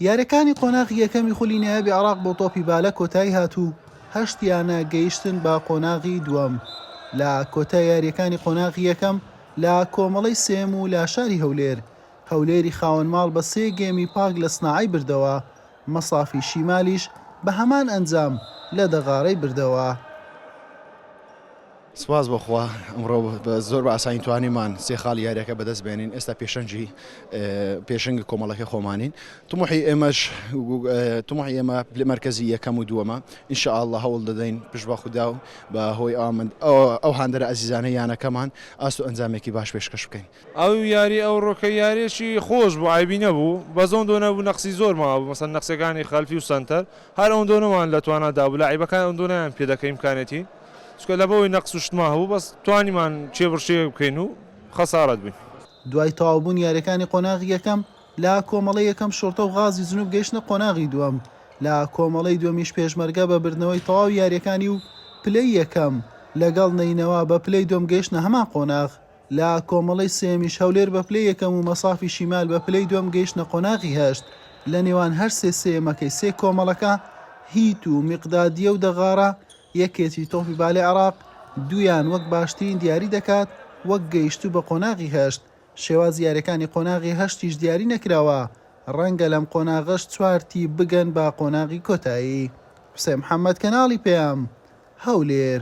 یاریەکانی قۆناغی یەکەمی خولی نایابی عێراق بۆ تۆپی بالە کۆتایی هات و هەشت یانە گەیشتن بە قۆناغی دووەم لە کۆتای یاریەکانی قۆناغی یەکەم لە کۆمەڵەی سێم و لە شاری هەولێر هەولێری خاوەن ماڵ بە سێ گێمی پاک لە سناعەی بردەوە مەسافی شیمالیش بە هەمان ئەنجام لە دەغاڕەی بردەوە. سوپاس بۆ خوا ئەمڕۆ زۆر بە ئاسانی توانیمان سێ خاڵی یاریەکە بەدەست بێنین ئێستا پێشەنجی پێشنگی کۆمەڵەکە خۆمانین تمحی ئێمەش تمحی ئێمە پلە مرکزی یەکەم و دووەمە انشاء الله هەوڵ دەدەین پش بە خودا و بە هۆی ئەو هاندەرە ئازیزانە یانەکەمان ئاست و ئەنجامێکی باش پێشکەش بکەین ئەو یاری ئەو ڕۆکە یاریەکی خۆش بوو عەیبی نەبوو بەس ئەوەندۆ نەبوو نەقسی زۆر مابوو مەسەن نەقسەکانی خەلفی و سەنتەر هەر ئەوەندۆ نەمان لە توانا دابوو لاعیبەکان ئەوەندۆ نەیان پێ دەکە ئیمکانیەتی چونکە لەبەوەی نەقس و شتمان هەبوو بەس توانیمان کێبڕکێ بکەین و خەسارەت بووین. دوای تەواوبوونی یاریەکانی قۆناغی یەکەم لە کۆمەڵەی یەکەم شوڕتە و غازی جنوب گەیشتنە قۆناغی دووەم لە کۆمەڵەی دووەمیش پێشمەرگە بە بردنەوەی تەواوی یاریەکانی و پلەی یەکەم لەگەڵ نەینەوا بە پلەی دووەم گەیشتنە هەمان قۆناغ. لە کۆمەڵەی سێیەمیش هەولێر بە پلەی یەکەم و مەسافی شیمال بە پلەی دووەم گەیشتنە قۆناغی هەشت، لە نێوان هەر سێ سێیەمەکەی سێ کۆمەڵەکە، هیت و میقدادیە و دەغارە، یەکێتی تۆپی بالەی عێراق دوویان وەک باشترین دیاری دەکات وەک گەیشتوو بە قۆناغی هەشت، شێوازی یاریەکانی قۆناغی هەشتیش دیاری نەکراوە، رەنگە لەم قۆناغەش چوار تیپ بگەن بە قۆناغی کۆتایی. حوسێن محەمەد، کەناڵی پەیام، هەولێر.